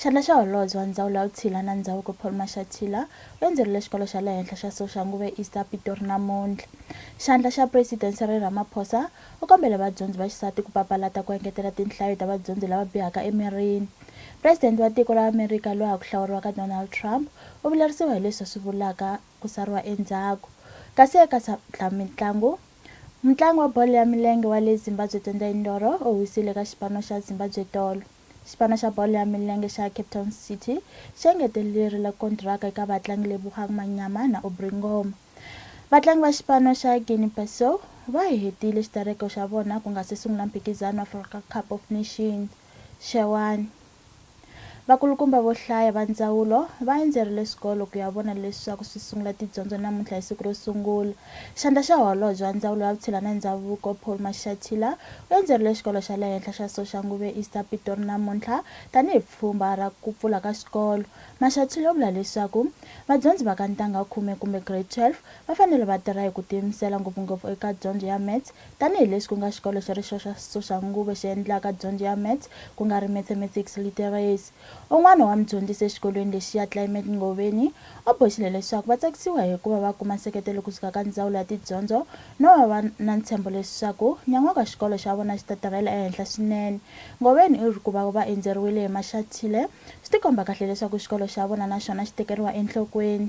Xandla xa Holobye wa Ndzawulo ya Vutshila na Ndzhavuko Paul Mashatila u endzerile Xikolo xa le Henhla xa Soxanguve East a Pitori namuntlha. Xandla xa President Cyril Ramaphosa u kombele vadyondzi va xisati ku papalata ku engetela tinhlayo ta vadyondzi lava bihaka emirini. President wa tiko ra Amerika loyi a ku hlawuriwaka Donald Trump u vilerisiwa hi leswi a swi vulaka ku sariwa endzhaku. Kasi eka swa mitlangu, Mutlangi wa bolo ya milenge wa le Zimbabwe Tendai Ndoro u wisile eka xipano xa Zimbabwe Tolo. Xipano xa bolo ya milenge xa Cape Town City xi engetelerile kontiraka eka vatlangi Lebogang Manyama na Aubrey Ngoma. Vatlangi va xipano xa Guinea Bissau va hetile xitereko xa vona ku nga se sungula mphikizano wa Africa Cup of Nations xewani. Vakulukumba vo hlaya va ndzawulo va endzerile swikolo ku ya vona leswaku swi sungula tidyondzo namuntlha hi siku ro sungula. Xandla xa Holobye wa Ndzawulo ya Vutshila na Ndzhavuko, Paul Mashatila, u endzerile Xikolo xa le Henhla xa Soshanguve East a Pitori namuntlha tanihi pfhumba ra ku pfula ka xikolo. Mashatila u vula leswaku vadyondzi va ka ntanga wa khume kumbe Grade 12 va fanele va tirha hi ku tiyimisela ngopfungopfu eka dyondzo ya Maths tanihi leswi ku nga xikolo xi ri xoxa Soshanguve xi endlaka dyondzo ya Maths ku nga ri Mathematics Literacy. Un'wana wa mudyondzisi exikolweni lexiya, Clement Ngoveni, u boxile leswaku va tsakisiwa hi ku va va kuma nseketelo ku suka ka Ndzawulo ya Tidyondzo no va va na ntshembo leswaku nyan'waka xikolo xa vona xi ta tirhela ehenhla swinene. Ngoveni u ri ku va va endzeriwile hi maxathile swi tikomba kahle leswaku xikolo xa vona na xona xi tekeriwa enhlokweni.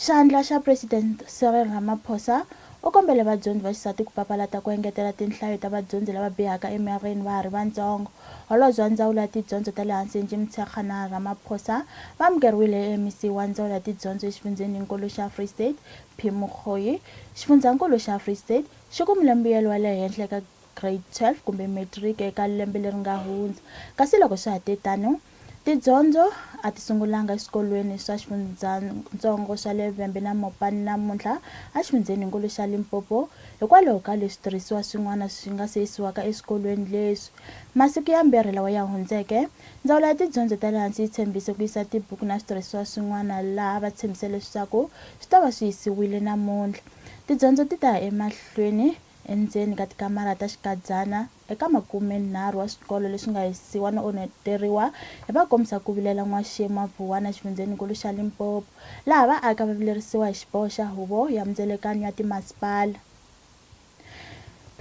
Xandla xa President Cyril Ramaphosa u kombele vadyondzi va xisati ku papalata ku engetela tinhlayo ta vadyondzi lava bihaka emirini va ha ri vantsongo. Holobye wa Ndzawulo ya Tidyondzo ta le Hansi Angie Motshekga na Ramaphosa va amukeriwile eMEC wa Ndzawulo ya Tidyondzo exifundzheni-nkulu xa Free State, P. Mokgoyi. Xifundzankulu xa Free State xi kumile mbuyelo wa le henhla eka Grade 12 kumbe Matric eka lembe leri nga hundza kasi loko swa ha te tano, Tidyondzo a ti sungulanga eswikolweni swa xifundzatsongo swa le Vhembe na Mopani namuntlha exifundzheninkulu xa Limpopo hikwalaho ka leswi tirhisiwa swin'wana swi nga se yisiwaka eswikolweni leswi. Masiku yambirhi lawa ya hundzeke, Ndzawulo ya Tidyondzo ta le Hansi yi tshembise ku yisa tibuku na switirhisiwa swin'wana laha va tshembise leswaku swi ta va swi yisiwile namuntlha. Tidyondzo ti ta ya emahlweni endzeni ka tikamara ta xikadyana. Eka makumenharhu wa swikolo leswi nga hisiwa no onheteriwa hi vakombisa ku vilela n'waxemu wa Vuwana exifundzheni-nkulu xa Limpopo, laha vaaki a va vilerisiwa hi xiboho xa Huvo ya Mindzelekanyo ya Timasipala.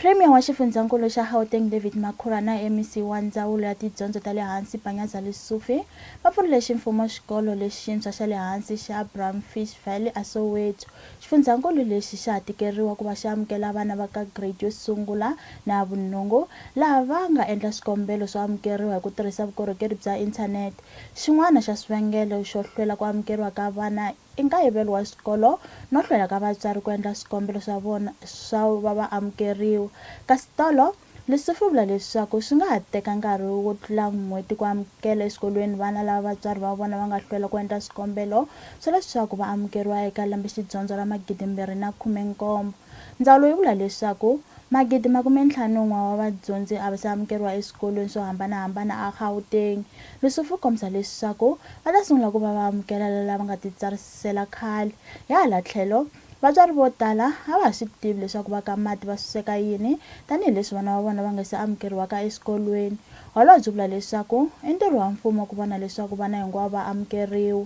Premier wa xifundzha-nkulu xa Gauteng David Makhura na MEC wa Ndzawulo ya Tidyondzo ta le Hansi Panyaza Lesufi va pfurile ximfumo xikolo lexintshwa xa le hansi xa Brownfish Valley a Soweto Xifundzankulu lexi xa ha tikeriwa ku va xi amukela vana va ka grade yo sungula na ya vunhungu laha va nga endla swikombelo swo amukeriwa hi ku tirhisa vukorhokeri bya inthanete. Xin'wana xa swivangelo xo hlwela ku amukeriwa ka vana i nkayivelo wa swikolo no hlwela ka vatswari ku endla swikombelo swa vona swa va va amukeriwa. Kasi tolo, Leswi swi vula leswaku swi nga ha teka nkarhi wo tlula n'hweti ku amukela exikolweni vana lava vatswari va vona va nga hlwela ku endla swikombelo swa leswaku va amukeriwa eka lembe-xidyondzo ra magidimbirhi na khume-nkombo. Ndzawulo yi vula leswaku magidi makume-ntlhanu-n'we wa vadyondzi a va se amukeriwa eswikolweni swo hambana-hambana eGauteng, leswi swi kombisa leswaku va ta sungula ku va va amukela lava nga titsarisela khale. Hi hala tlhelo, Vatswari vo tala a va ha swi tivi leswaku va ka mati va suseka yini tanihi leswi vana va vona va nga se amukeriwaka eswikolweni. Holobye u vula leswaku i ntirho wa mfumo ku vona leswaku vana hinkwavo va amukeriwa.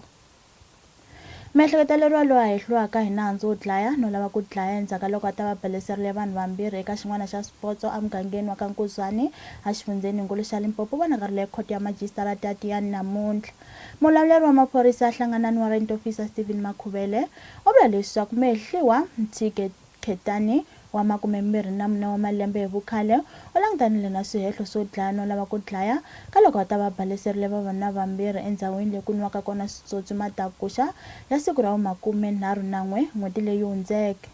Miehleketeleriwa loyi a hehliwaka hi nandzu wo dlaya no lava ku dlaya endzhaku ka loko a ta va beleserile vanhu vambirhi eka xin'wana xa swipotso emugangeni wa ka Nkuzwani exifundzheninkulu xa Limpopo u vonakarile ekhoto ya majisitarata ya Tiyani namuntlha. Mulawuleri wa maphorisa ya Hlanganani Warrant Officer Stephen Makhuvele u vula leswaku Mehliwa Mthike Khetani wa makumembirhi na mune wa malembe hi vukhale u langutanile na swihehlo swo dlaya no lava ku dlaya ka loko a ta va baleserile vavanuna vambirhi endzhawini leyi ku nwiwaka kona switswotswi matakuxa ya siku ra vu makume nharhu na n'we n'hweti leyi hundzeke.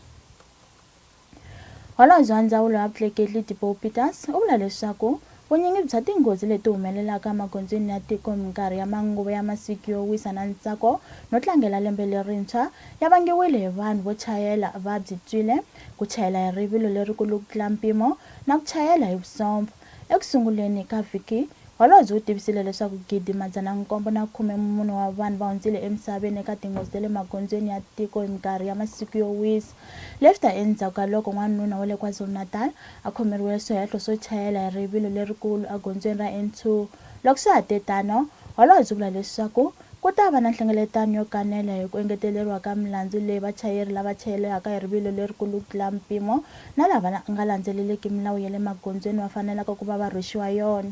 Holobye wa Ndzawulo ya Vutleketli Tipoy Peters u vula leswaku vunyingi bya tinghozi leti humelelaka emagondzweni ya tiko minkarhi ya manguva ya masiku yo wisa na ntsako no tlangela lembe lerintshwa ya vangiwile hi vanhu vo chayela va byitswile, ku chayela hi rivilo lerikulu ku tlula mpimo na ku chayela hi vusomfa. Eku sunguleni ka vhiki, holobye u tivisile leswaku gidi madzana nkombo na khume mune wa vanhu va hundzile emisaveni eka tinghozi ta le magondzweni ya tiko hi minkarhi ya masiku yo wisa. Lefta endzhaku ka loko n'wanuna wa le KwaZulu-Natal a khomeriwe swihehlo swo chayela hi rivilo lerikulu egondzweni ra N2. Loko swa ha te tano, Holobye u vula leswaku ku ta va na nhlengeletano yo kanela hi ku engeteleriwa ka milandzu leyi vachayeri lava chayelaka hi rivilo lerikulu ku tlula mpimo na lava nga landzeleliki milawu ya le magondzweni va fanelaka ku va va rhwexiwa yona.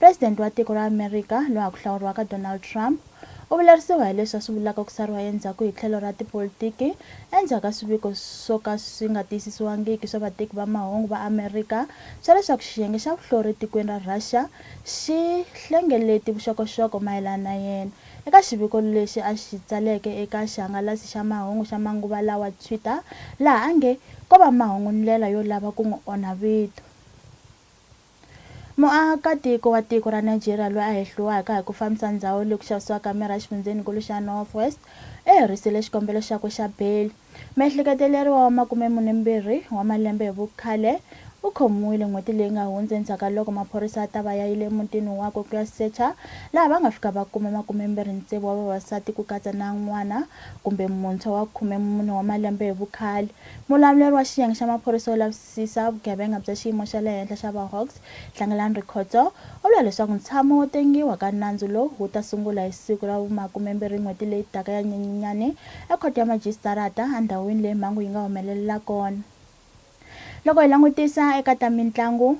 President wa tiko ra Amerika loyi ha ku hlawuriwaka Donald Trump u vilerisiwa hi leswi a swi vulaka ku sariwa endzhaku hi tlhelo ra tipolitiki endzhaku ka swiviko swo ka swi nga tiyisisiwangiki swa vateki va mahungu va Amerika swa leswaku xiyenge xa vuhlori etikweni ra Russia xi hlengeleti vuxokoxoko mayelana na yena eka xiviko lexi a xi tsaleke eka xihangalasi xa mahungu xa manguva lawa Twitter laha a nge ko va mahungu ndlela yo lava ku n'wi onha vito. Muakatiko wa tiko ra Nigeria loyi a hehliwaka hi ku fambisa ndzhawu leyi ku xavisiwaka mirhi exifundzheni-nkulu xa North West u herisiile xikombelo xakwe xa beyili. Muehleketeleriwa wa makumemune-mbirhi wa malembe hi vukhale u khomiwile n'hweti leyi nga hundza endzhaku ka loko maphorisa ya ta va ya yile emutini wakwe ku ya secha laha va nga fika va kuma makumembirhi-ntsevu wa vavasati ku katsa na n'wana kumbe muntshwa wa khumemune wa malembe hi vukhale. Mulamuleri wa xiyenge xa maphorisa yo lavisisa tiyisisa vugevenga bya xiyimo xa le henhla xa VaHawks, Tlangelani Rikhotso, u vula leswaku ntshamo wo tengiwa ka nandzu lowu wu ta sungula hi siku ra vumakumembirhi n'hweti leyi taka ya Nyenyenyani eKhoto ya Majisitarata endhawini leyi mhangu yi nga humelelela kona. Loko hi langutisa eka ta mintlangu,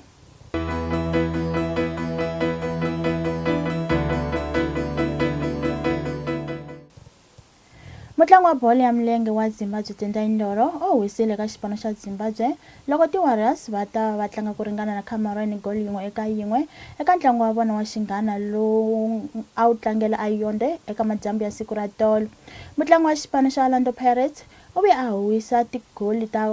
Mutlangi wa bolo ya milenge wa Zimbabwe Tendai Ndoro o wisile eka xipano xa Zimbabwe loko ti Warriors va ta va va tlanga ku ringana na Cameroon hi goli yin'we eka yin'we eka ntlangu wa vona wa xinghana lowu a wu tlangela eYaoundé eka madyambu ya siku ra tolo. Mutlangi wa xipano xa Orlando Pirates, U ve a huwisa tigoli ta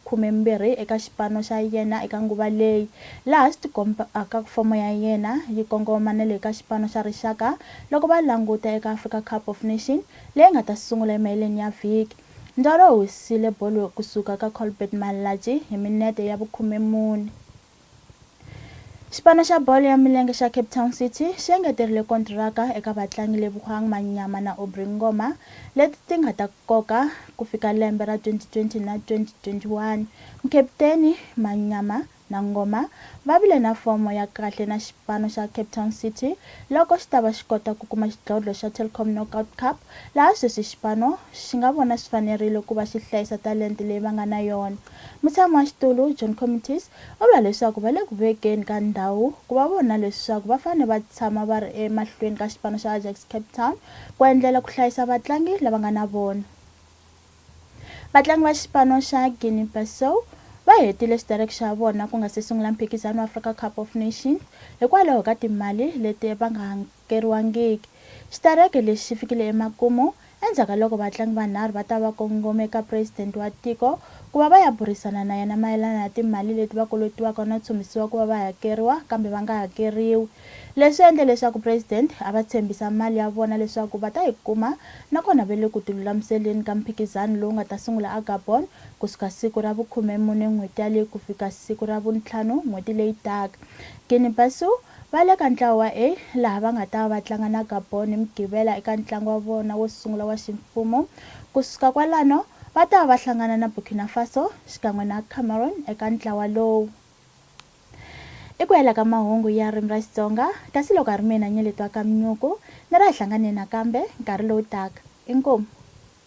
khumembirhi eka xipano xa yena eka nguva leyi, laha swi tikombaka ku fomo ya yena yi kongomanele eka xipano xa rixaka loko va languta eka Africa Cup of Nation leyi nga ta sungula emaheleni ya vhiki. Ndoro u huwisile bolo ku suka ka Colbert Malatji hi minete ya vukhumemune. Xipano xa bolo ya milenge xa Cape Town City xi engeterile kontiraka eka vatlangi Lebogang Manyama na Aubrey Ngoma leti ti nga ta koka ku fika lembe ra 2020 na 2021. Mukaputeni Manyama na Ngoma va vile na fomo ya kahle na xipano xa Cape Town City loko xi ta va xi kota ku kuma xidlodlo xa Telkom Knockout Cup laha sweswi xipano xi nga vona swi fanerile ku va xi hlayisa talente leyi va nga na yona. Mutshami wa xitulu, John Comitis, u vula leswaku va le ku vekeni ka ndhawu ku va vona leswaku va fanele va tshama va ri emahlweni ka xipano xa Ajax Cape Town ku endlela ku hlayisa vatlangi lava nga na vona. Vatlangi va xipano xa Guinea-Bissau va hetile xitereki xa vona ku nga si sungula mphikizano wa Africa Cup of Nations hikwalaho ka timali leti va nga kokeriwangiki. Xitereke lexi xi fikile emakumu endzhaku ka loko vatlangi vanharhu va ta va kongome eka president wa tiko ku va va ya burisana na yena mayelana na timali leti va kolotiwaka no tshunbisiwa ku va va hakeriwa kambe va nga hakeriwi. Leswi endle leswaku president a va tshembisa mali ya vona leswaku va ta yi kuma nakona va le ku tilulamiseleni ka mphikizano lowu nga ta sungula aGabon ku suka siku ra vu khume mune n'hweti yaleyi ku fika siku ra vu ntlhanu n'hweti leyi taka. Guinea-Bissau. Va le ka ntlawa wa A laha va nga ta va va tlanga na Gabon hi Mugqivela eka ntlangu wa vona wo sungula wa ximfumo. Ku suka kwalano, va ta va va hlangana na Burkina Faso xikan'we na Cameroon eka ntlawa lowu. I ku hela ka mahungu ya Ririmi ra Xitsonga, kasi loko a ri mina Nyeletwa Kamnyuku, ni ri a hi hlanganeni nakambe nkarhi lowu taka. Inkomu.